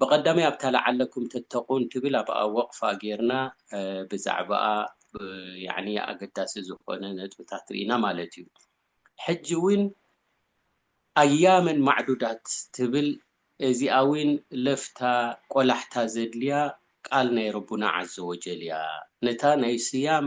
ብቀዳማይ ኣብታ ለዓለኩም ተተቁን ትብል ኣብኣ ወቅፋ ጌርና ብዛዕባኣ ያኒ ኣገዳሲ ዝኮነ ነጥብታት ሪኢና ማለት እዩ ሕጂ ዊን ኣያመን ማዕዱዳት ትብል እዚኣ ዊን ለፍታ ቆላሕታ ዘድልያ ቃል ናይ ረቡና ዓዘወጀል እያ ነታ ናይ ስያም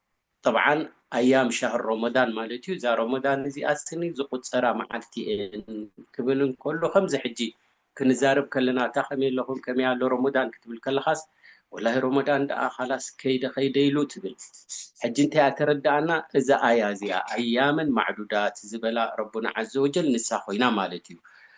ጠብዓን ኣያም ሻህር ሮሞዳን ማለት'ዩ፣ እዛ ሮሞዳን እዚኣ ስኒ ዝቑጸራ መዓልቲ'የን ክብል እንከሎ ከምዚ ሕጂ ክንዛረብ ከለና ኣታ ከመይ ኣለኹም ከመይ ኣሎ ሮሞዳን ክትብል ከለኻስ ወላሂ ሮሞዳን ደኣ ኻላስ ከይደ ከይደ ኢሉ ትብል ሕጂ እንታይ'ያ ተረደኣና እዛ ኣያ እዚኣ ኣያመን ማዕዱዳት ዝበላ ረቡና ዓዘወጀል ንሳ ኮይና ማለት'ዩ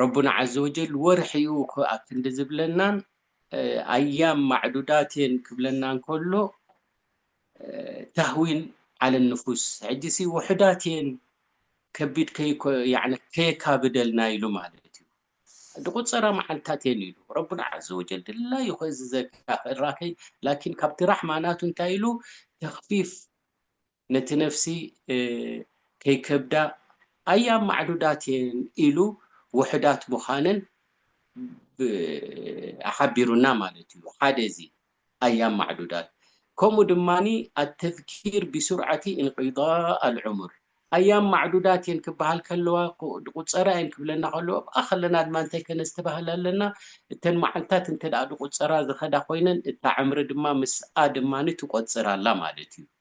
ረቡና ዓዘ ወጀል ወርሒኡ ኣብ ክንዲ ዝብለናን ኣያም ማዕዱዳት እየን ክብለና እንከሎ ታህዊን ዓለ ንፉስ ሕጂሲ ውሑዳት እየን ከቢድ ከየካብደልና ኢሉ ማለት እዩ ድቁፀራ መዓልታት እየን ኢሉ ረቡና ዓዘ ወጀል ድላዩ ከእዝዘካ ክእራከይ ላኪን ካብቲ ራሕማ ናቱ እንታይ ኢሉ ተክፊፍ ነቲ ነፍሲ ከይከብዳ ኣያ ማዕዱዳት እየን ኢሉ ውሑዳት ምዃነን ሓቢሩና ማለት እዩ። ሓደ እዚ ኣያ ማዕዱዳት ከምኡ ድማ ኣተዝኪር ቢሱርዓቲ ኢንቂዳእ ኣልዑሙር ኣያ ማዕዱዳት እየን ክበሃል ከለዋ ድቁፀራ እየን ክብለና ከለዎ ኣብኣ ከለና ድማ እንታይ ከነስተባህል ኣለና እተን መዓልታት እንተ ድቁፀራ ዝኸዳ ኮይነን እታ ዕምሪ ድማ ምስኣ ድማ ትቆፅር ኣላ ማለት እዩ።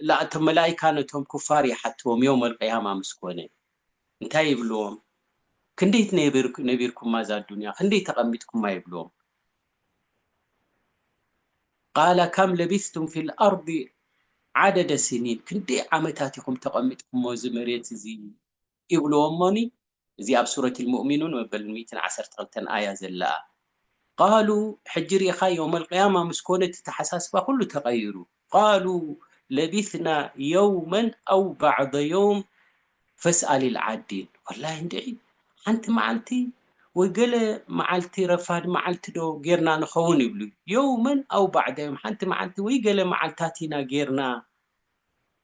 እላ እቶም መላኢካ ነቶም ኩፋር ይሓትዎም ዮውም ኣልቅያማ ምስ ኮነ እንታይ ይብልዎም ክንደይ ነቢርኩማ እዛ ኣዱንያ ክንደይ ተቀሚጥኩማ ይብልዎም ቃለ ከም ለቢስቱም ፊል ኣርዲ ዓደደ ሲኒን ክንደይ ዓመታት ኢኹም ተቀሚጥኩሞ እዚ መሬት እዚ ይብልዎ እሞኒ እዚ ኣብ ሱረት ኣልሙእሚኑን መበል ሚእትን ዓሰርተ ክልተን ኣያ ዘላ ቃሉ ሕጂ ሪኢኻ የውመልቅያማ ምስ ኮነ እቲ ተሓሳስባ ኩሉ ተቐይሩ ቃሉ ለቢትና የውመን ኣው ባዕደ የውም ፈስኣሊል ዓዲን ወላሂ እንድዒ ሓንቲ መዓልቲ ወይ ገለ መዓልቲ ረፋድ መዓልቲ ዶ ጌርና ንኸውን ይብሉ የውመን ኣው ባዕደ የውም ሓንቲ መዓልቲ ወይ ገለ መዓልታት ኢና ጌርና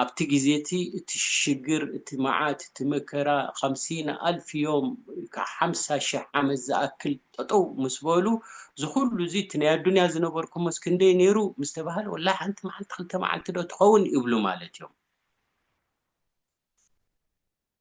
ኣብቲ ግዜ እቲ እቲ ሽግር እቲ መዓት እቲ መከራ ኻምሲን ኣልፍ ዮም ክዓ ሓምሳ ሽሕ ዓመት ዝኣክል ጠጠው ምስ በሉ እዚ ኹሉ እዚ እቲ ናይ ኣዱንያ ዝነበርኩሞስ ክንደይ ነይሩ ምስ ተባህለ ወላሂ ሓንቲ መዓልቲ ክልተ መዓልቲ ዶ ትኸውን ይብሉ ማለት ዮም።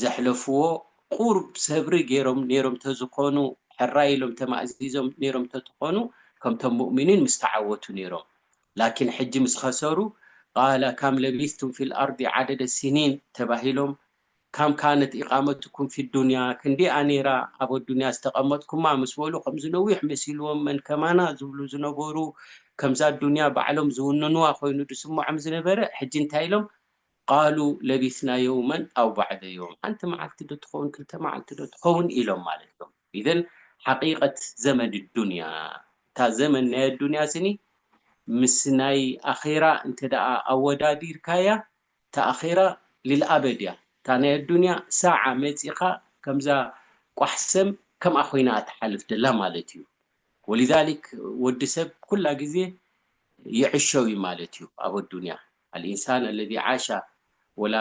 ዘሕለፍዎ ቁሩብ ሰብሪ ገይሮም ነይሮም ተዝኾኑ ሕራይ ኢሎም ተማእዚዞም ነይሮም ተትኾኑ ከምቶም ሙእሚኒን ምስተዓወቱ ነይሮም ላኪን ሕጂ ምስ ኸሰሩ ቃለ ካም ለቢስቱም ፊል ኣርዲ ዓደደ ሲኒን ተባሂሎም ካም ካነት ኢቃመቱኩም ፊ ዱንያ ክንደይ'ያ ነይራ ኣብ ኣዱንያ ዝተቀመጥኩማ ምስ በሉ ከምዚ ነዊሕ መሲልዎም መን ከማና ዝብሉ ዝነበሩ ከምዛ ኣዱንያ ባዕሎም ዝውንንዋ ኮይኑ ዝስመዖም ዝነበረ ሕጂ እንታይ ኢሎም ቃሉ ለቢስና የውመን ኣው ባዕደ የውም፣ ሓንቲ መዓልቲ ዶ ትኸውን ክልተ መዓልቲ ዶ ትኸውን ኢሎም ማለት እዮም። ኢዘን ሓቂቀት ዘመድ ዱንያ፣ እታ ዘመን ናይ ኣዱንያ ስኒ ምስ ናይ ኣኼራ እንተደኣ ኣወዳዲርካያ፣ እታ ኣኼራ ልልኣበድ እያ። እታ ናይ ኣዱንያ ሳዓ መጺኻ ከምዛ ቋሕ ሰም ከምኣ ኮይና እያ ትሓልፍ ደላ ማለት እዩ። ወሊዛሊክ ወዲ ሰብ ኩላ ግዜ ይዕሸው እዩ ማለት እዩ ኣብ ኣዱንያ። ኣልኢንሳን ኣለዚ ዓሻ ወላ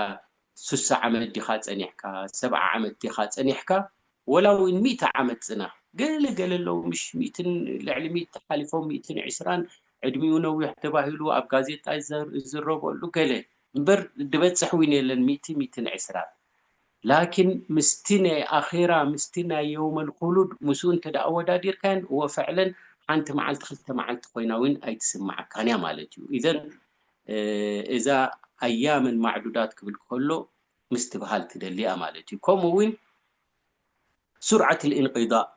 ሱሳ ዓመት ዲኻ ጸኒሕካ ሰብዓ ዓመት ዲኻ ጸኒሕካ ወላ ውን ሚእቲ ዓመት ጽናሕ ገለ ገለ ኣለዉ ምሽ ሚእትን ልዕሊ ሚእቲ ሓሊፎም ሚእትን ዕስራን ዕድሚኡ ነዊሕ ተባሂሉ ኣብ ጋዜጣ ይዝረበሉ ገለ እምበር ድበጽሕ ውን የለን ሚእቲ ሚእትን ዕስራን ላኪን ምስቲ ናይ ኣኼራ ምስቲ ናይ የውመል ኹሉድ ምስኡ እንተ ኣወዳዲርካየን እወ ፈዕለን ሓንቲ መዓልቲ ክልተ መዓልቲ ኮይና ውን ኣይትስመዓካን እያ ማለት እዩ ኢዘን እዛ ኣያመን ማዕዱዳት ክብል ከሎ ምስትብሃል ትደሊ እያ ማለት እዩ ከምኡ ውን ሱርዓት ልኢንቂዳእ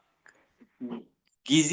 ግዜ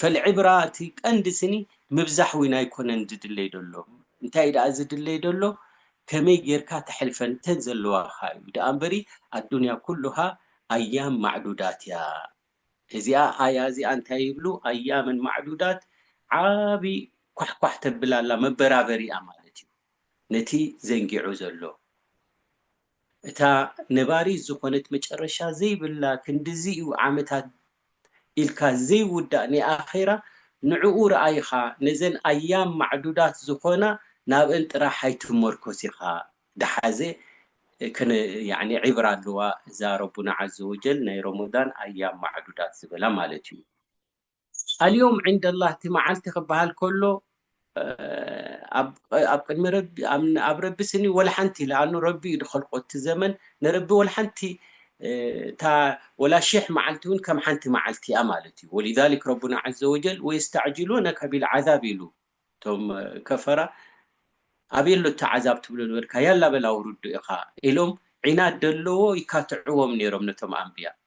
ፈልዕብራ እቲ ቀንዲ ስኒ ምብዛሕ ውን ኣይኮነን ዝድለይ ደሎ እንታይ ደኣ ዝድለይ ደሎ ከመይ ጌርካ ተሕልፈን እተን ዘለዋኻ እዩ ደኣ እምበሪ ኣዱንያ ኩሉሃ ኣያም ማዕዱዳት እያ እዚኣ ኣያ እዚኣ እንታይ ይብሉ ኣያመን ማዕዱዳት ዓቢ ኳሕኳሕ ተብል ኣላ መበራበሪ እያ ማለት እዩ ነቲ ዘንጊዑ ዘሎ እታ ነባሪት ዝኾነት መጨረሻ ዘይብላ ክንድዚ እዩ ዓመታት ኢልካ ዘይውዳእ ናይ ኣኼራ ንዕኡ ርኣይ ኢኻ ነዘን ኣያም ማዕዱዳት ዝኾና ናብእን ጥራሕ ኣይትመርኮስ ኢኻ ድሓዘ ክነ ያኒ ዒብራ ኣለዋ እዛ ረቡና ዓዘወጀል ናይ ሮሞዳን ኣያም ማዕዱዳት ዝበላ ማለት እዩ ኣልዮም ዕንደላህ እቲ መዓልቲ ክበሃል ከሎ ኣብ ቅድሚ ረቢ ኣብ ረቢ ስኒ ወላሓንቲ ለኣኑ ረቢ እዩ ድኸልቆ እቲ ዘመን ንረቢ ወላሓንቲ እታ ወላ ሽሕ መዓልቲ እውን ከም ሓንቲ መዓልቲ እያ ማለት እዩ ወሊዛሊክ ረቡና ዓዘ ወጀል ወየስተዕጅሉነከ ቢልዓዛብ ኢሉ እቶም ከፈራ ኣበይ ኣሎ እቲ ዓዛብ ትብሎ ነበርካ ያላ በል ኣውርዶ ኢኻ ኢሎም ዒናድ ደለዎ ይካትዕዎም ነይሮም ነቶም ኣንብያ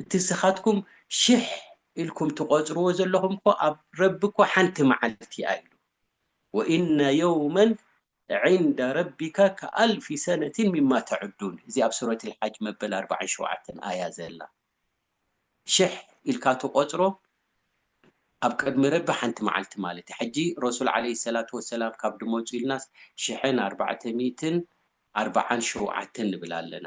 እቲ እስኻትኩም ሽሕ ኢልኩም ትቆጽርዎ ዘለኹም እኮ ኣብ ረቢ እኮ ሓንቲ መዓልቲ እያ ኢሉ ወኢነ የውመን ዒንደ ረቢካ ከኣልፊ ሰነቲን ሚማ ተዑዱን እዚ ኣብ ሱረት ልሓጅ መበል ኣርብዓን ሸውዓተን ኣያ ዘላ ሽሕ ኢልካ ትቆጽሮ ኣብ ቅድሚ ረቢ ሓንቲ መዓልቲ ማለት እዩ ሕጂ ረሱል ዓለይሂ ሰላቱ ወሰላም ካብ ድመጹ ኢልናስ ሽሕን ኣርባዕተ ሚእትን ኣርብዓን ሸውዓተን ንብል ኣለና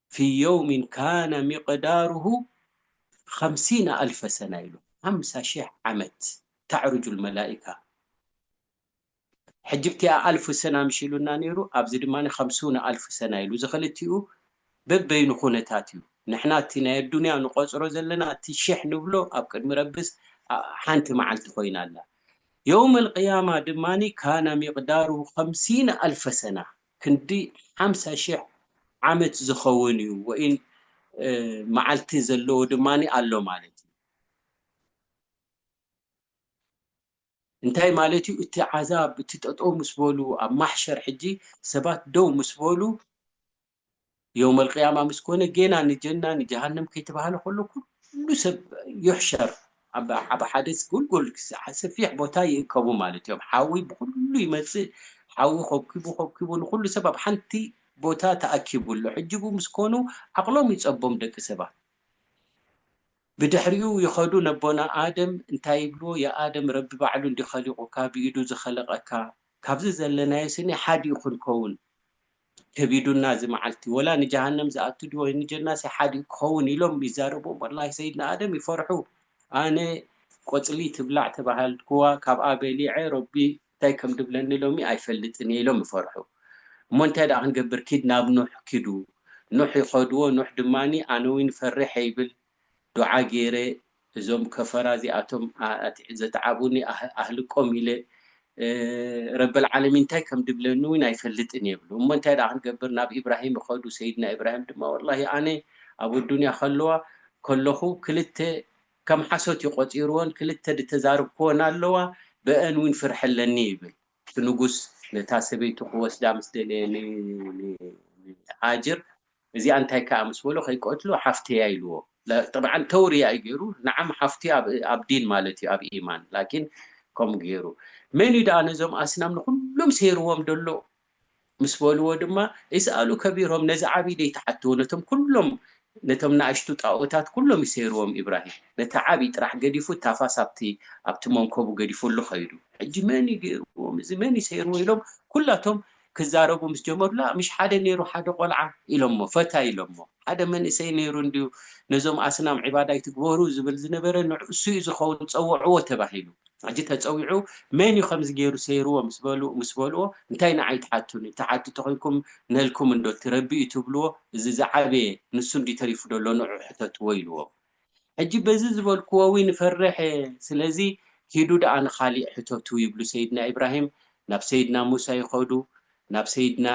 ፊ የውሚን ካነ ሚቅዳሩሁ ኸምሲነ ኣልፈ ሰና ኢሉ ሓምሳ ሺሕ ዓመት ተዕሩጁል መላኢካ ሕጂ ብቲኣ ኣልፍ ሰና ምሽ ኢሉና ኔሩ ኣብዚ ድማ ኸምሱነ ኣልፍ ሰና ኢሉ እዚ ኽልቲኡ በበይኑ ኹነታት እዩ ንሕና እቲ ናይ ኣዱንያ ንቆጽሮ ዘለና እቲ ሽሕ ንብሎ ኣብ ቅድሚ ረብስ ሓንቲ መዓልቲ ኾይና ኣላ የውመል ቅያማ ድማ ካነ ሚቅዳሩሁ ኸምሲነ ኣልፈ ሰና ክንዲ ሓምሳ ሽሕ ዓመት ዝኸውን እዩ ወይን መዓልቲ ዘለዎ ድማ ኣሎ ማለት እዩ። እንታይ ማለት እዩ? እቲ ዓዛብ እቲ ጠጠው ምስ በሉ ኣብ ማሕሸር ሕጂ ሰባት ደው ምስ በሉ፣ የውመልቅያማ ምስ ኮነ ጌና ንጀና ንጀሃነም ከይተባህለ ከሎ ኩሉ ሰብ ዩሕሸር ኣብ ኣብ ሓደ ጎልጎል ሰፊሕ ቦታ ይእከቡ ማለት እዮም። ሓዊ ብኹሉ ይመጽእ ሓዊ ኮብኪቡ ኮብኪቡ ንኹሉ ሰብ ኣብ ሓንቲ ቦታ ተኣኪቡ ኣሎ። ሕጂ ብኡ ምስ ኮኑ ዓቕሎም ይጸቦም ደቂ ሰባት። ብድሕሪኡ ይኸዱ ነቦና ኣደም እንታይ ይብልዎ ያኣደም ረቢ ባዕሉ እንድዩ ኸሊቑካ ብኢዱ ዝኸለቐካ ካብዚ ዘለናዮ ስኒ ሓዲኡ ክንከውን ከቢዱና እዚ መዓልቲ ወላ ንጀሃነም ዝኣቱ ድዩ ወይ ንጀናስ ይሓድግ ክኸውን ኢሎም ይዛረቡ ወላሂ ሰይድና ኣደም ይፈርሑ ኣነ ቆጽሊ ትብላዕ ተባሃልኩዋ ካብኣ በሊዐ ረቢ እንታይ ከም ድብለኒ ሎሚ ኣይፈልጥን እየ ኢሎም ይፈርሑ እሞ እንታይ ደኣ ክንገብር ኪድ ናብ ኑሕ ኪዱ ኑሕ ይኸድዎ ኑሕ ድማ ኣነዊን ፈሪሐ ይብል ዱዓ ጌረ እዞም ከፈራ እዚኣቶም ዘትዓቡኒ ኣህልቆም ኢለ ረበል ዓለሚን እንታይ ከም ድብለኒ እውን ኣይፈልጥን እየ ይብሉ እሞ እንታይ ድኣ ክንገብር ናብ ኢብራሂም ይኸዱ ሰይድና ኢብራሂም ድማ ወላሂ ኣነ ኣብ ኣዱንያ ከለዋ ከለኹ ክልተ ከም ሓሶት እዩ ቆፂርዎን ክልተ ድተዛርብክዎን ኣለዋ በአን እውን ፍርሒ ኣለኒ ይብል እቲ ንጉስ ነታ ሰበይቱ ክወስዳ ምስ ደለየ ንሃጅር እዚኣ እንታይ ከኣ ምስ በሎ ከይቀትሎ ሓፍተያ ኢልዎ ጠብዓን ተውርያ እዩ ገይሩ ናዓም ሓፍቱ ኣብ ዲን ማለት እዩ ኣብ ኢማን ላኪን ከምኡ ገይሩ መን እዩ ደኣ ነዞም ኣስናም ንኩሎም ሰይርዎም ደሎ ምስ በልዎ ድማ እስኣሉ ከቢሮም ነዚ ዓብይ ደይትሓትዎ ነቶም ኩሎም ነቶም ናእሽቱ ጣኦታት ኩሎም እዩ ሰይርዎም ኢብራሂም ነቲ ዓብይ ጥራሕ ገዲፉ ታፋስ ኣብቲ ኣብቲ መንኮቡ ገዲፉሉ ከይዱ ሕጂ መን እዩ ገይርዎም እዚ መን እዩ ሰይርዎ ኢሎም ኩላቶም ክዛረቡ ምስ ጀመሩ ላእ ምሽ ሓደ ነይሩ ሓደ ቆልዓ ኢሎሞ ፈታይ ኢሎሞ ሓደ መንእሰይ ነይሩ እንድዩ ነዞም ኣስናም ዒባዳ ኣይትግበሩ ዝብል ዝነበረ ንዕኡሱዩ ዝኸውን ጸውዕዎ ተባሂሉ ሕጂ ተጸዊዑ መን ዩ ከምዚ ገይሩ ሰይርዎ ምስ በሉ ምስ በልዎ እንታይ ንዓይ ትሓቱኒ ትሓቱ ተኾይንኩም ነልኩም እንዶ ትረቢ ዩ ትብልዎ እዚ ዝዓበየ ንሱ እንድዩ ተሪፉ ዶ ኣሎ ንዑ ሕተትዎ ኢልዎም ሕጂ በዚ ዝበልክዎ ውን እፈርሕ እየ ስለዚ ኪዱ ደኣ ንኻሊእ ሕተቱ ይብሉ ሰይድና ኢብራሂም ናብ ሰይድና ሙሳ ይኸዱ ናብ ሰይድና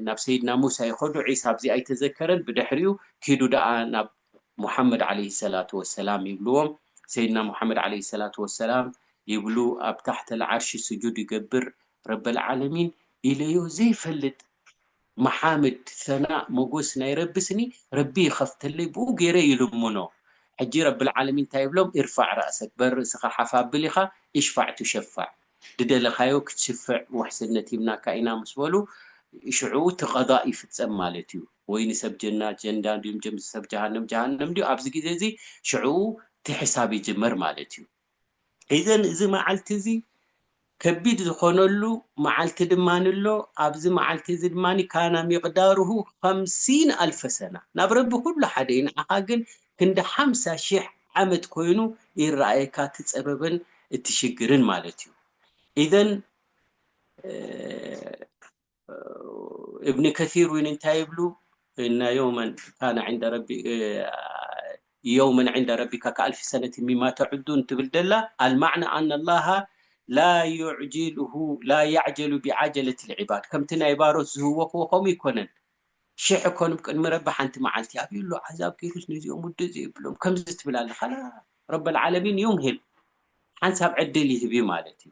ናብ ሰይድና ሙሳ ይኸዱ ዒሳ ኣብዚ ኣይተዘከረን ብድሕሪኡ ኪዱ ደኣ ናብ ሙሓመድ ዓለይሂ ሰላቱ ወሰላም ይብልዎም ሰይድና ሙሓመድ ዓለይሂ ሰላቱ ወሰላም ይብሉ ኣብ ታሕተል ዓርሺ ስጁድ ይገብር ረበል ዓለሚን ኢለዮ ዘይፈልጥ መሓምድ ሰናእ ሞጎስ ናይ ረቢ ስኒ ረቢ ይከፍተለይ ብኡ ገይረ ይልምኖ ሕጂ ረብልዓለሚን ታይ ይብሎም ኢርፋዕ ራእሰክ በር ርእስካ ሓፍ ኣብል ኢካ ኢሽፋዕ ቱሸፋዕ ድደለካዮ ክትሽፍዕ ውሕስነት ሂብናካ ኢና ምስ በሉ ሽዑ እቲ ቀዳእ ይፍጸም ማለት እዩ ወይ ንሰብ ጀና ጀንዳ ንሰብ ጀሃነም ጀሃነም ድዩ ኣብዚ ግዜ እዚ ሽዑ እቲ ሕሳብ ይጅመር ማለት እዩ። ኢዘን እዚ መዓልቲ እዚ ከቢድ ዝኾነሉ መዓልቲ ድማ ኣሎ። ኣብዚ መዓልቲ እዚ ድማ ካና ሚቅዳሩሁ ኸምሲን ኣልፈ ሰና፣ ናብ ረቢ ኹሉ ሓደ እዩ፣ ንዓኻ ግን ክንዲ ሓምሳ ሺሕ ዓመት ኮይኑ ይረኣየካ እቲ ጸበብን እቲ ሽግርን ማለት እዩ። ኢዘን እብኒ ከሲር እውን እንታይ ይብሉ እና የውመን ካነ ዕንደ ረቢ የውመን ዕንደ ረቢካ ከኣልፊ ሰነት ሚማ ተዕዱን ትብል ደላ ኣልማዕና ኣነ ላሃ ላ ዩዕጅልሁ ላ ያዕጀሉ ብዓጀለት ልዕባድ ከምቲ ናይ ባሮት ዝህወኽዎ ከምኡ ይኮነን ሽሕ ኮን ቅድሚ ረቢ ሓንቲ መዓልቲ ኣብዩ ኣሎ ዓዛብ ገይሩስ ነዚኦም ውድእ ዘይብሎም ከምዚ ትብል ኣለ ካላ ረበልዓለሚን ዩምሂል ሓንሳብ ዕድል ይህብ ማለት እዩ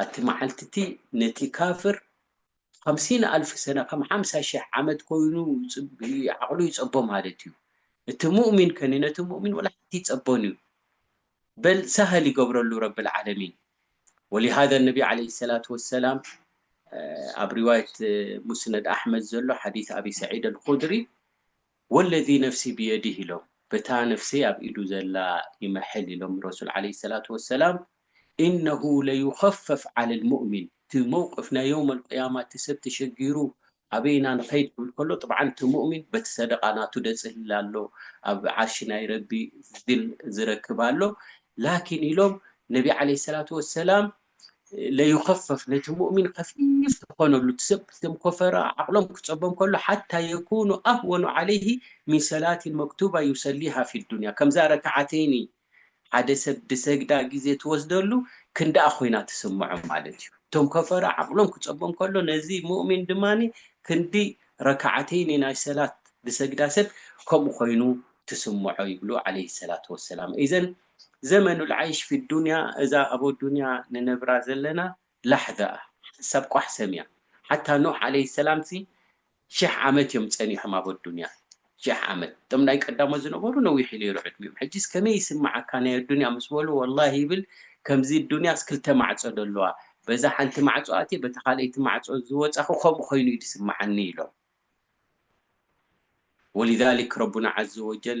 ኣቲ መዓልቲቲ ነቲ ካፍር ኸምሲን ኣልፍ ሰነ ከም ሓምሳ ሽሕ ዓመት ኮይኑ ዓቅሉ ይጸቦ ማለት እዩ እቲ ሙእሚን ከኒ ነቲ ሙእሚን ወላ ሓንቲ ይጸቦን እዩ በል ሳሀል ይገብረሉ ረቢ ልዓለሚን ወሊሃዛ ነቢ ዓለይሂ ሰላቱ ወሰላም ኣብ ሪዋየት ሙስነድ ኣሕመድ ዘሎ ሓዲስ ኣቢ ሰዒድ ኣልኹድሪ ወለዚ ነፍሲ ብየዲህ ኢሎም በታ ነፍሰይ ኣብ ኢዱ ዘላ ይምሕል ኢሎም ረሱል ዓለይሂ ሰላቱ ወሰላም ኢነሁ ለዩኸፈፍ ዓለል ሙእሚን እቲ መውቅፍ ናይ የውመል ቅያማ እቲ ሰብ ተሸጊሩ ኣበይ ኢና ንኸይድ ክብል ከሎ ጥብዓን እቲ ሙእሚን በቲ ሰደቓ ናቱ ደጽህል ኣሎ ኣብ ዓርሺ ናይ ረቢ ዚል ዝረክብ ኣሎ ላኪን ኢሎም ነቢ ዓለይሂ ሰላቱ ወሰላም ለዩኸፈፍ ነቲ ሙእሚን ከፊፍ ዝኾነሉ እቲ ሰብ እቶም ኮፈራ ዓቕሎም ክጸቦም ከሎ ሓታ የኩኑ ኣህወኑ ዓለይሂ ሚን ሰላቲን መክቱባ ዩሰሊሃ ፊ ዱንያ ከምዛ ረክዓተይኒ ሓደ ሰብ ድሰግዳ ግዜ ትወስደሉ ክንድኣ ኮይና ትስምዖ ማለት እዩ እቶም ኮፈራ ዓቕሎም ክጸቦም ከሎ ነዚ ሙእሚን ድማ ክንዲ ረክዓተይኒ ናይ ሰላት ድሰግዳ ሰብ ከምኡ ኮይኑ ትስምዖ ይብሉ ዓለይሂ ሰላቱ ወሰላም ኢዘን ዘመን ልዓይሽ ፊ ዱንያ እዛ ኣብ ኣዱንያ ንነብራ ዘለና ላሕዛ ሓንሳብ ቋሕ ሰምያ ሓታ ኑሕ ዓለይሂ ሰላም ሲ ሽሕ ዓመት እዮም ጸኒሖም ኣብ ኣዱንያ ሽሕ ዓመት እቶም ናይ ቀዳሞት ዝነበሩ ነዊሕ እዩ ነይሩ ዕድሚኦም ሕጂስ ከመይ ይስምዓካ ናይ ኣዱንያ ምስ በሉ ወላሂ ይብል ከምዚ ዱንያስ ክልተ ማዕጾ ዶ ኣለዋ በዛ ሓንቲ ማዕጾ ኣትየ በታ ካልኣይቲ ማዕጾ ዝወጻኹ ከምኡ ኮይኑ እዩ ዝስምዓኒ ኢሎም ወሊዛሊክ ረቡና ዓዘወጀል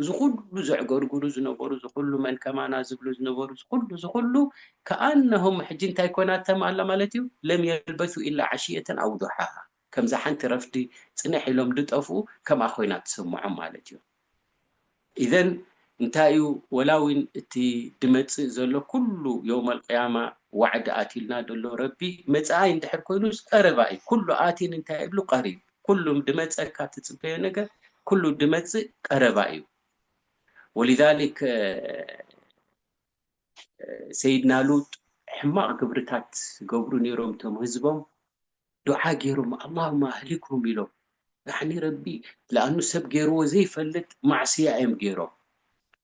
እዚ ኩሉ ዘዕገርግሩ ዝነበሩ እዚ ኩሉ መን ከማና ዝብሉ ዝነበሩ እዚ ኩሉ እዚ ኩሉ ከኣነሁም ሕጂ እንታይ ኮይና ተም ኣላ ማለት እዩ ለም የልበሱ ኢላ ዓሽየተን ኣው ዱሓሃ ከምዛ ሓንቲ ረፍዲ ጽንሕ ኢሎም ድጠፍኡ ከምኣ ኮይና ትስምዖም ማለት እዩ ኢዘን እንታይ እዩ ወላ ውን እቲ ድመጽእ ዘሎ ኩሉ የውመል ቅያማ ዋዕዲ ኣትዩልና ደሎ ረቢ መጻኣይ እንድሕር ኮይኑስ ቀረባ እዩ ኩሉ ኣትን እንታይ እብሉ ቀሪብ ኩሉ ድመጸካ ትጽበዮ ነገር ኩሉ ድመጽእ ቀረባ እዩ ወሊዛሊክ ሰይድና ሉጥ ሕማቕ ግብርታት ገብሩ ነይሮም ቶም ህዝቦም ዱዓ ገይሮም ኣላሁማ ኣህሊክሁም ኢሎም ያዕኒ ረቢ ልኣኑ ሰብ ገይርዎ ዘይፈልጥ ማዕስያ እዮም ገይሮም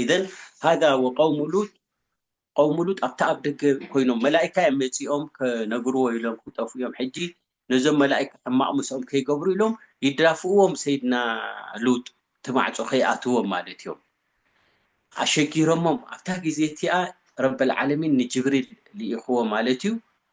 ኢዘን ሃጋ ወቀውሙ ሉጥ ቀውሙ ሉጥ ኣብቲ ኣብ ደገ ኮይኖም መላኢካ እዮም መጺኦም ከነግርዎ ኢሎም ክጠፍኡ እዮም ሕጂ ነዞም መላኢካ ሕማቕ ምስኦም ከይገብሩ ኢሎም ይዳፍእዎም ሰይድና ሉጥ እቲ ማዕጾ ከይኣትዎም ማለት እዮም ኣሸጊሮሞም ኣብታ ግዜ እቲኣ ረበል ዓለሚን ንጅብሪል ልኢኽዎ ማለት እዩ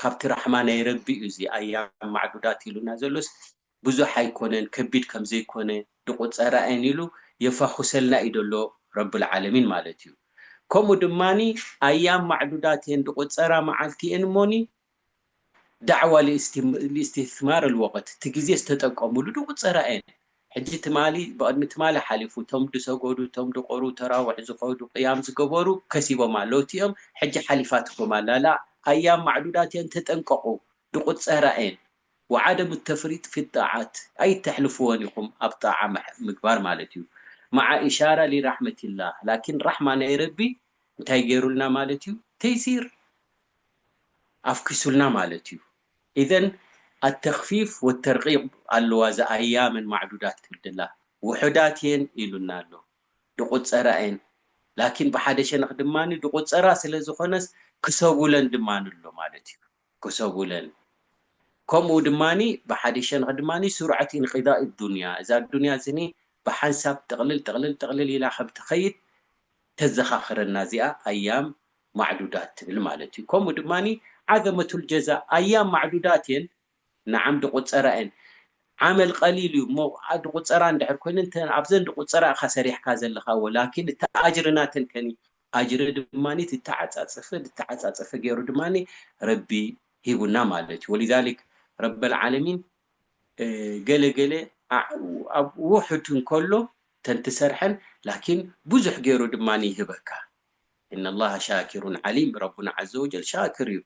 ካብቲ ራሕማ ናይ ረቢ እዩ እዚ ኣያም ማዕዱዳት ኢሉና ዘሎስ ብዙሕ ኣይኮነን ከቢድ ከምዘይኮነ ድቁጸራ እየን ኢሉ የፋኹሰልና እዩ ደሎ ረብልዓለሚን ማለት እዩ ከምኡ ድማ ኣያም ማዕዱዳት እየን ድቁጸራ መዓልቲ እየን እሞኒ ዳዕዋ ሊእስቲማር ኣልወቅት እቲ ግዜ ዝተጠቀምሉ ድቁጸራ እየን ሕጂ ትማሊ ብቕድሚ ትማሊ ሓሊፉ እቶም ድሰጎዱ እቶም ድቖሩ ተራውሕ ዝኸዱ ቅያም ዝገበሩ ከሲቦም ኣለዉ እቲኦም ሕጂ ሓሊፋትኩም ኣላ ላእ ኣያም ማዕዱዳት እየን ተጠንቀቑ ድቑጸራ እየን ወዓደም እተፍሪጥ ፊ ጣዓት ኣይተሕልፍዎን ኢኹም ኣብ ጣዓ ምግባር ማለት እዩ ማዓ ኢሻራ ሊራሕመቲላህ ላኪን ራሕማ ናይ ረቢ እንታይ ገይሩልና ማለት እዩ ተይሲር ኣፍኪሱልና ማለት እዩ። ኢዘን ኣተኽፊፍ ወተርቂብ ኣሎዋ ዘኣያመን ማዕዱዳት ክብድላ ውሑዳት እየን ኢሉና ኣሎ ድቁጸራ እየን ላኪን ብሓደ ሸነኽ ድማ ድቁጸራ ስለ ዝኾነስ ክሰቡለን ድማ ኣሎ ማለት እዩ ክሰቡለን ከምኡ ድማ ብሓደ ሸነኽ ድማ ሱርዐት ኢንቂዳእ ኣዱንያ እዛ ኣዱንያ እዚኒ ብሓንሳብ ጥቕልል ጥቕልል ጥቕልል ኢላ ከም ትኸይድ ተዘኻኽረና እዚኣ ኣያም ማዕዱዳት ትብል ማለት እዩ። ከምኡ ድማ ዓዘመቱል ጀዛ፣ ኣያም ማዕዱዳት እየን፣ ንዓም ድቑጸራ እየን። ዓመል ቀሊል እዩ እሞ ድቑጸራ እንድሕር ኮይነን እተን ኣብዘን ድቑጸራ ኢኻ ሰሪሕካ ዘለኻ ወላኪን እቲ ኣጅሪ ናተን ከኒ ኣጅሪ ድማ ዝተዓጻጸፈ ዝተዓጻጸፈ ገይሩ ድማ ረቢ ሂቡና ማለት እዩ። ወሊዛሊክ ረበል ዓለሚን ገለ ገለ ኣብ ውሑድ እንከሎ እተን ትሰርሐን ላኪን ብዙሕ ገይሩ ድማ ይህበካ። ኢነላሃ ሻኪሩን ዓሊም ረቡና ዓዘወጀል ሻክር እዩ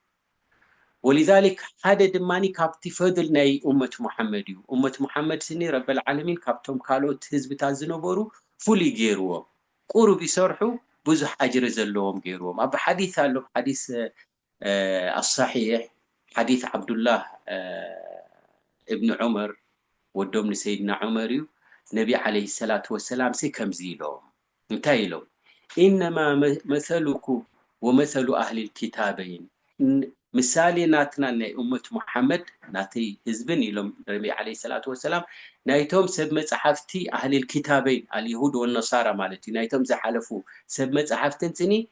ወሊዛሊክ ሓደ ድማ ካብቲ ፈድል ናይ ኡመት ሙሓመድ እዩ ኡመት ሙሓመድ ስኒ ረበል ዓለሚን ካብቶም ካልኦት ህዝብታት ዝነበሩ ፍሉይ ገይርዎም ቁሩብ ይሰርሑ ብዙሕ ኣጅሪ ዘለዎም ገይርዎም ኣብ ሓዲስ ኣሎ ሓዲስ ኣሳሒሕ ሓዲት ዓብዱላህ እብኒ ዑመር ወዶም ንሰይድና ዑመር እዩ ነቢ ዓለይሂ ሰላቱ ወሰላምሲ ከምዚ ኢሎም እንታይ ኢሎም ኢነማ መሰሉኩም ወመሰሉ ኣህሊል ኪታበይን ምሳሌ ናትናን ናይ እመት ሙሓመድ ናተይ ህዝብን ኢሎም ነቢ ዓለይሂ ሰላቱ ወሰላም ናይቶም ሰብ መጽሓፍቲ ኣህሊል ኪታበይን ኣልየሁድ ወነሳራ ማለት እዩ ናይቶም ዝሓለፉ ሰብ መጽሓፍትን ስኒ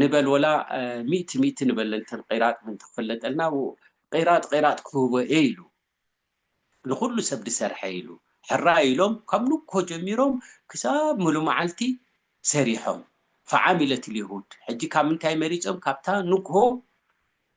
ንበል ወላ ሚእቲ ሚእቲ ንበል እንተ ቂራጥ ምን ተፈለጠልና ቂራጥ ቂራጥ ክህቦ እየ ኢሉ ንኩሉ ሰብ ድሰርሐ ኢሉ ሕራይ ኢሎም ካብ ንግሆ ጀሚሮም ክሳብ ምሉ መዓልቲ ሰሪሖም ፈዓሚለት ልይሁድ ሕጂ ካብ ምንታይ መሪፆም ካብታ ንግሆ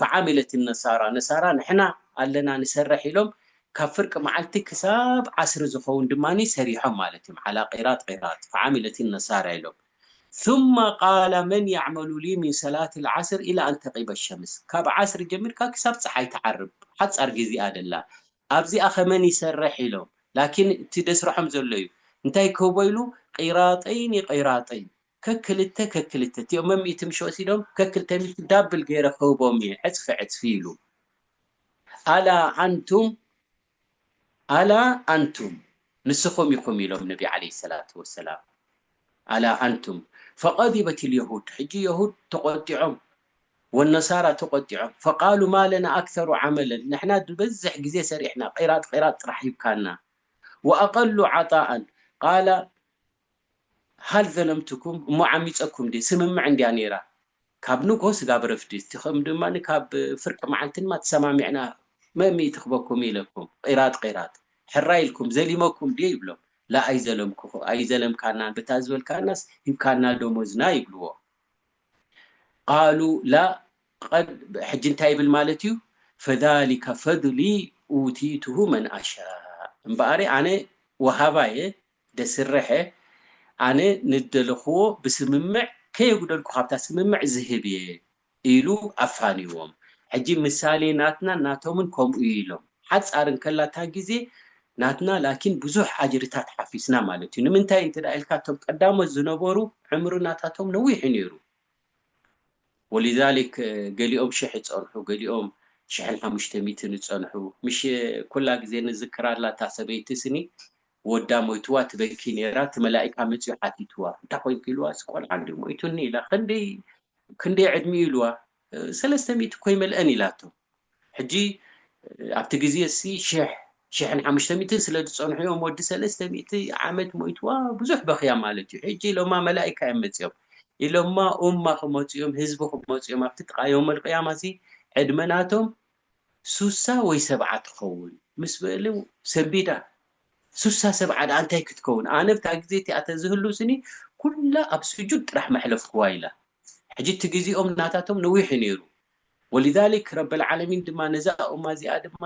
ፈዓሚለት ነሳራ ነሳራ ንሕና ኣለና ንሰርሕ ኢሎም ካብ ፍርቂ መዓልቲ ክሳብ ዓስሪ ዝኸውን ድማ ሰሪሖም ማለት እዮም ዓላ ቂራጥ ቂራጥ ፈዓሚለት ነሳራ ኢሎም ثم ቃለ መን የዕመሉ ሊ ሚን ሰላት ልዓስር ኢላ ኣን ተቂበ ሸምስ ካብ ዓስሪ ጀሚርካ ክሳብ ፀሓይ ትዓርብ ሓፃር ግዜ ኣደላ ኣብዚኣ ከ መን ይሰርሕ ኢሎም ላኪን እቲ ደስረሖም ዘሎ እዩ እንታይ ክህቦ ኢሉ ቂራጠይኒ ቂራጠይን ከክልተ ከክልተ እቲኦም መሚእቲ ምሽ ወሲዶም ከክልተ ሚእቲ ዳብል ገይረ ክህቦም እየ ዕፅፊ ዕፅፊ ኢሉ ኣላ ኣንቱም ኣላ ኣንቱም ንስኹም ኢኹም ኢሎም ነቢ ዓለይሂ ሰላቱ ወሰላም ኣላ ኣንቱም ፈቀዲበት ልየሁድ ሕጂ የሁድ ተቆጢዖም ወነሳራ ተቆጢዖም ፈቃሉ ማለና ኣክተሩ ዓመለን ንሕና ዝበዝሕ ግዜ ሰሪሕና ቂራጥ ቂራጥ ጥራሕ ሂብካና ወኣቀሉ ዓጣኣን ቃላ ሀል ዘለምቱኩም እሞ ዓሚፀኩም ድየ ስምምዕ እንድያ ነይራ ካብ ንግሆ ስጋብ ረፍዲ እስቲኹም ድማ ካብ ፍርቂ መዓልቲ ድማ ተሰማሚዕና መእ ሚእቲ ክበኩም ኢለኩም ቂራጥ ቂራጥ ሕራይ ኢልኩም ዘሊመኩም ድየ ይብሎም ላእ ኣይዘለምኩኹ ኣይዘለምካናን ብታ ዝበልካናስ ሂብካና ደሞዝና ይብልዎ ቃሉ ላእ ቐድ ሕጂ እንታይ ይብል ማለት እዩ ፈዛሊከ ፈድሊ ኡቲቱሁ መን ኣሻእ እምበኣር ኣነ ወሃባ እየ ደስረሐ ኣነ ንደለኹዎ ብስምምዕ ከየጉደልኩ ካብታ ስምምዕ ዝህብ እየ ኢሉ ኣፋንይዎም። ሕጂ ምሳሌ ናትናን ናቶምን ከምኡ እዩ ኢሎም። ሓጻር እንከላ እታ ግዜ ናትና ላኪን ብዙሕ ኣጅርታት ሓፊስና ማለት እዩ። ንምንታይ እንተ ኢልካ እቶም ቀዳሞት ዝነበሩ ዕምሪ ናታቶም ነዊሕ እዩ ነይሩ። ወሊዛሊክ ገሊኦም ሽሕ ዝጸንሑ ገሊኦም ሽሕን ሓሙሽተ ሚእትን ዝጸንሑ። ምሽ ኩላ ግዜ ንዝክራ ኣላ እታ ሰበይቲ ስኒ ወዳ ሞይትዋ ትበኪ ኔራ እቲ መላኢካ መጺኡ ሓቲትዋ እንታይ ኮንኪ ኢልዋስ ቆልዓ እንድዩ ሞይቱኒ ኢላ ክንደይ ክንደይ ዕድሚኡ ኢልዋ ሰለስተ ሚእቲ እኮ ኣይመልአን ኢላቶ ሕጂ ኣብቲ ግዜሲ ሽሕ ሽሕን ሓሙሽተ ሚእትን ስለ ዝጸንሑ እዮም ወዲ ሰለስተ ሚእቲ ዓመት ሞይትዋ ብዙሕ በኽያ ማለት እዩ ሕጂ ኢሎማ መላኢካ እዮም መጺኦም ኢሎማ ኡማ ክመጹ እዮም ህዝቢ ክመጹ እዮም ኣብቲ ጥቓ ዮመል ቅያማሲ ዕድመ ናቶም ሱሳ ወይ ሰብዓ ትኸውን ምስ በሉ ሰምቢዳ ሱሳ ሰብዓ ድኣ እንታይ ክትከውን ኣነ ብታ ግዜ እቲኣ ተዝህሉ ስኒ ኩላ ኣብ ሱጁድ ጥራሕ መሕለፍኩዋ ኢላ ሕጂ እቲ ግዜኦም ናታቶም ነዊሕ እዩ ነይሩ ወሊዛሊክ ረበልዓለሚን ድማ ነዛ ኡማ እዚኣ ድማ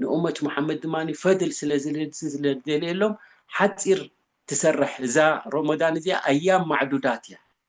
ንኡመት ሙሓመድ ድማ ፈድል ስለዝደልየሎም ሓጺር ትሰርሕ እዛ ሮሞዳን እዚኣ ኣያም ማዕዱዳት እያ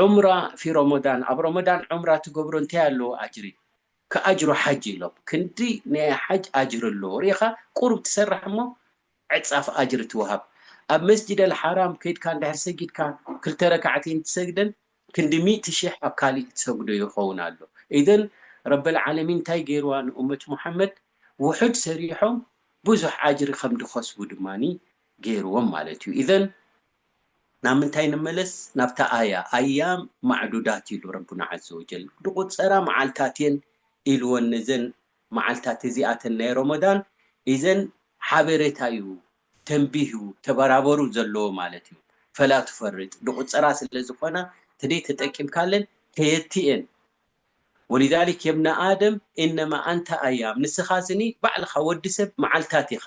ዑምራ ፊ ሮሞዳን ኣብ ሮሞዳን ዑምራ ትገብሮ እንታይ ኣለዎ ኣጅሪ ክኣጅሩ ሓጅ ኢሎም ክንዲ ናይ ሓጅ ኣጅሪ ኣለዎ ሪኢኻ ቁሩብ ትሰርሕ እሞ ዕጻፍ ኣጅሪ ትውሃብ ኣብ መስጂድ ኣልሓራም ከይድካ እንድሕር ሰጊድካ ክልተ ረካዕተይን ትሰግደን ክንዲ ሚእቲ ሺሕ ኣብ ካሊእ ትሰግዶ ይኸውን ኣሎ ኢዘን ረበል ዓለሚን እንታይ ገይርዋ ንኡመት ሙሓመድ ውሑድ ሰሪሖም ብዙሕ ኣጅሪ ከም ድኸስቡ ድማ ገይርዎም ማለት እዩ ኢዘን ናብ ምንታይ ንመለስ ናብታ ኣያ ኣያም ማዕዱዳት ኢሉ ረቡና ዓዘወጀል ድቁጸራ መዓልታት እየን ኢልወን ነዘን መዓልታት እዚኣተን ናይ ሮሞዳን ኢዘን ሓቤሬታ እዩ ተንቢህ እዩ ተበራበሩ ዘለዎ ማለት እዩ ፈላ ቱፈርጥ ድቁጸራ ስለ ዝኮና ተደይ ተጠቂምካለን ከየቲ እየን ወሊዛሊክ የብነ ኣደም ኢነማ ኣንተ ኣያም ንስካ ስኒ ባዕልካ ወዲ ሰብ መዓልታት ኢካ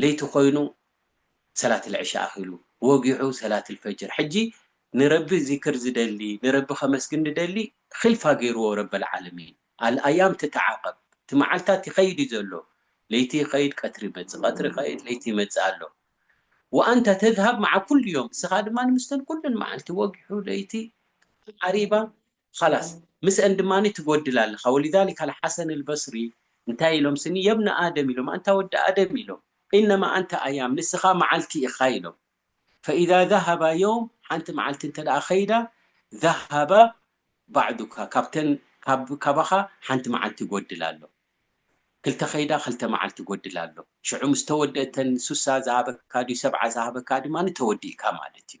ለይቲ ኮይኑ ሰላት ልዕሻ ኣኺሉ ወጊዑ ሰላት ልፈጅር ሕጂ ንረቢ ዚክር ዝደሊ ንረቢ ከመስግን ድደሊ ኺልፋ ገይርዎ ረበልዓለሚን ኣልኣያም ትተዓቀብ እቲ መዓልታት ይኸይድ እዩ ዘሎ ለይቲ ይኸይድ ቀትሪ ይመጽእ ቀትሪ ይኸይድ ለይቲ ይመጽእ ኣሎ ወኣንተ ተዝሃብ መዓ ኩሉ ዮም እስኻ ድማ ምስተን ኩለን መዓልቲ ወጊሑ ለይቲ ዓሪባ ኸላስ ምስእን ድማ ትጎድል ኣለኻ ወሊዛሊከ ኣልሓሰን ኣልበስሪ እንታይ ኢሎም ስኒ የብነ ኣደም ኢሎም ኣንታ ወዲ ኣደም ኢሎም ኢነማ ኣንተ ኣያም ንስኻ መዓልቲ ኢኻ ኢሎም ፈኢዛ ዘሀባ የውም ሓንቲ መዓልቲ እንተደኣ ኸይዳ ዘሀባ ባዕዱካ ካብተን ካብ ካባኻ ሓንቲ መዓልቲ ይጎድል ኣሎ ክልተ ኸይዳ ኸልተ መዓልቲ ይጎድል ኣሎ ሽዑ ምስ ተወድእ እተን ሱሳ ዝሃበካ ድዩ ሰብዓ ዝሃበካ ድማ ተወዲእካ ማለት እዩ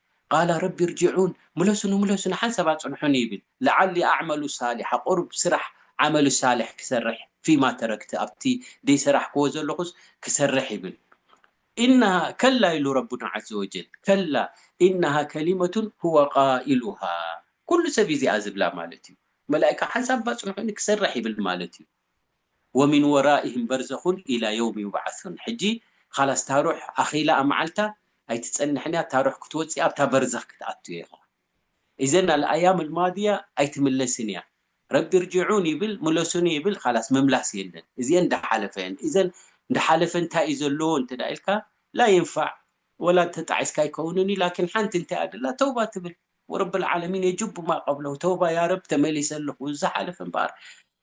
ቃለ ረቢ እርጅዑን ምለሱኒ ምለሱኒ ሓንሳብ ኣጽንሑኒ ይብል ለዓሊ ኣዕመሉ ሳሊሓ ቁሩብ ስራሕ ዓመሉ ሳልሕ ክሰርሕ ፊማ ተረክት ኣብቲ ደይሰራሕክዎ ዘለኹስ ክሰርሕ ይብል ኢነሃ ከላ ኢሉ ረቡና ዓዘወጀል ከላ ኢነሃ ከሊመቱን ሁወ ቃኢሉሃ ኩሉ ሰብ ኢዚኣ ዝብላ ማለት እዩ መላኢካ ሓንሳብ ኣጽንሑኒ ክሰርሕ ይብል ማለት እዩ። ወሚን ወራኢህም በርዘኹን ኢላ የውም ዩብዓሱን ሕጂ ኻላስ ታሩሕ ኣኺላኣ መዓልታ ኣይትጸንሕንያ ታሩሕ ክትወጽእ ኣብታ በርዘኽ ክትኣቱ ኢኻ ኢዘን ኣልኣያም ኣልማድያ ኣይትምለስንያ ረቢ ርጅዑን ይብል ምለሱኒ ይብል ኻላስ ምምላስ የለን እዚኤን እንዳሓለፈየን ኢዘን እንዳሓለፈ እንታይዩ ዘለዎ እንተ ኢልካ ላ የንፋዕ ወላ ተጣዒስካ ኣይከውንንዩ ላኪን ሓንቲ እንታይ እያ ድላ ተውባ ትብል ወረቢ ኣልዓለሚን የጁቡ ማ ቀብለሁ ተውባ ያረብ ተመሊሰ ኣለኹ እዚ ዝሓለፈ እምበኣር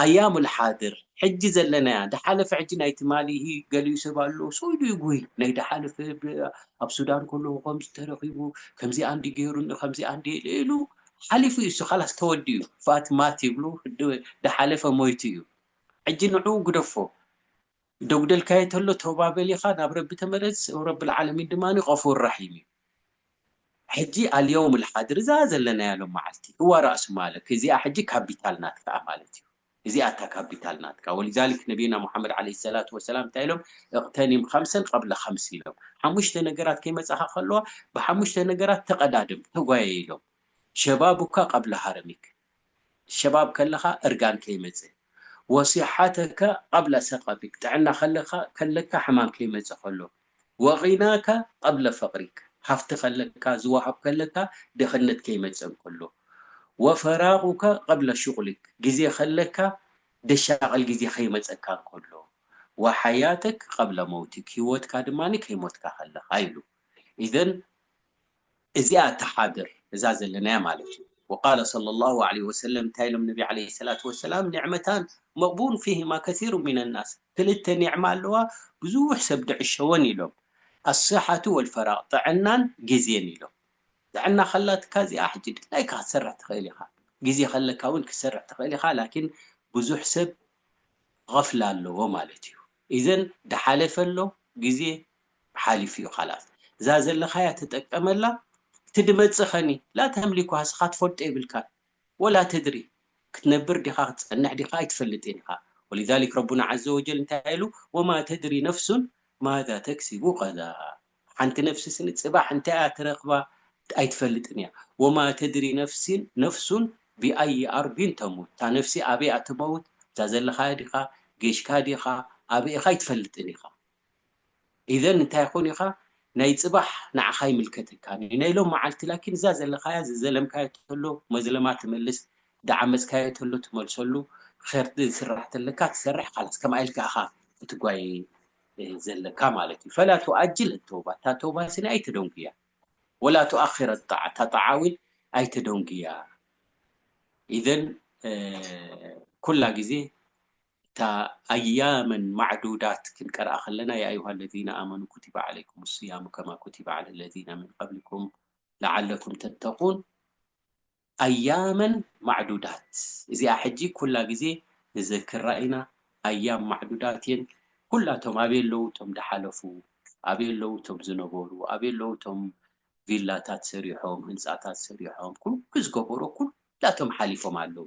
ኣያሙል ሓድር ሕጂ ዘለናያ ድሓለፈ ሕጂ ናይ ትማሊ ኢሂ ገሊኡ ሰብ ኣሎ ሶይዱ ይጉሂ ናይ ድሓለፈ ኣብ ሱዳን ከለኹ ከምዚ ተረኺቡ ከምዚኣ እንዲ ገይሩኒ ከምዚኣ እንዲ ኢለ ኢሉ ሓሊፉ እዩ እሱ ካላስ ተወዲኡ ፋት ማት ይብሉ ድሓለፈ ሞይቱ እዩ ሕጂ ንዕኡ ግደፎ ደጉደልካዬ ተሎ ተውባ በል ኢኻ ናብ ረቢ ተመለስ ወረብል ዓለሚን ድማ ገፉር ራሒም እዩ ሕጂ ኣልየውም ልሓድር እዛ ዘለናያ ሎም መዓልቲ እዋ ራእሱ ማልክ እዚኣ ሕጂ ካቢታል ናትካኣ ማለት እዩ እዚኣ እታ ካቢታል ናትካ ወሊዛሊክ ነብይና ሙሓመድ ዓለይሂ ሰላቱ ወሰላም እንታይ ኢሎም እቅተኒም ኸምሰን ቐብለ ኸምስ ኢሎም ሓሙሽተ ነገራት ከይመጻኻ ከለዋ ብሓሙሽተ ነገራት ተቀዳደም ተጓየይ ኢሎም ሸባቡካ ቐብለ ሃረሚክ ሸባብ ከለካ እርጋን ከይመጸ ወሲሓተከ ቀብለ ሰቀቢል ጥዕና ከለካ ከለካ ሕማም ከይመጸ ከሎ ወቂናከ ቀብለ ፈቅሪክ ሃፍቲ ከለካ ዝወሃብ ከለካ ድክነት ከይመጸ እንከሎ ወፈራቁከ ቀብለ ሹቅሊክ ግዜ ከለካ ደሻቅል ግዜ ከይመጸካ እንከሎ ወሓያተክ ቀብለ መውቲክ ሂወትካ ድማ ከይሞትካ ከለካ ኢሉ ኢዘን እዚኣ እታ ሓብር እዛ ዘለናያ ማለት እዩ። ወቃለ ሰለላሁ ዓለይሂ ወሰለም እንታይ ኢሎም ነቢ ዓለይሂ ሰላቱ ወሰላም ኒዕመታን መቅቡን ፊሂማ ከሲሩን ሚነ ናስ ክልተ ኒዕማ ኣለዋ ብዙሕ ሰብ ድዕሸወን ኢሎም ኣስሓቱ ወልፈራቅ ጥዕናን ግዜን ኢሎም ጥዕና ከላትካ እዚኣ ሕጂ ድላይካ ክትሰርሕ ትክእል ኢካ ግዜ ከለካ እውን ክትሰርሕ ትክእል ኢካ ላኪን ብዙሕ ሰብ غፍላ ኣለዎ ማለት እዩ ኢዘን ድሓለፈ ኣሎ ግዜ ሓሊፉ ዩ ኻላስ እዛ ዘለኻያ ተጠቀመላ እቲ ድመጽእ ኸኒ ላተምሊኩሃ እስኻ ትፈልጦ የብልካን ወላ ተድሪ ክትነብር ዲኻ ክትጸንሕ ዲኻ ኣይትፈልጥን ኢኻ ወሊዛሊክ ረቡና ዓዘወጀል እንታይ ኢሉ ወማ ተድሪ ነፍሱን ማዛ ተክሲቡ ቐዳ ሓንቲ ነፍሲ ስኒ ጽባሕ እንታይ እያ ትረኽባ ኣይትፈልጥን እያ ወማ ተድሪ ነፍሲን ነፍሱን ቢኣዪ ኣርዲን ተሙት እታ ነፍሲ ኣበይ እያ ትመውት እዛ ዘለኻያ ዲኻ ጌሽካ ዲኻ ኣበይ ኢኻ ኣይትፈልጥን ኢኻ ኢዘን እንታይ ይኾን ኢኻ ናይ ጽባሕ ንዓኻ ኣይምልከተካን ኢዩ ናይ ሎም መዓልቲ ላኪን እዛ ዘለኻያ ዝዘለምካዮ ተሎ መዝለማ ትመልስ ዝዓመጽካዮ ተሎ ትመልሰሉ ኸር ዝስራሕ ተለካ ትሰርሕ ኻላስ ከምኣ ኢልካ እኻ ክትጓየ ዘለካ ማለት ኢዩ ፈላ ቱኣጅል ኣተውባ እታ ተውባ ስኒ ኣይተደንጉያ ወላ ቱኣኺር ኣጣዓ እታ ጣዓ እውን ኣይተደንጉያ ኢዘን ኩላ ግዜ እታ ኣያመን ማዕዱዳት ክንቀርኣ ከለና ያ ኣዩሃ ለዚነ ኣመኑ ኩቲበ ዓለይኩም ስያሙ ከማ ኩቲበ ዓለ ለዚነ ምን ቀብሊኩም ለዓለኩም ተተቁን ኣያመን ማዕዱዳት እዚኣ ሕጂ ኩላ ግዜ ንዘክራ ኢና ኣያም ማዕዱዳት እየን ኩላቶም ኣበይ ኣለዉ እቶም ድሓለፉ ኣበይ ኣለዉ እቶም ዝነበሩ ኣበይ ኣለዉ እቶም ቪላታት ሰሪሖም ህንጻታት ሰሪሖም ኩሉ ዝገበሮ ኩላቶም ሓሊፎም ኣለዉ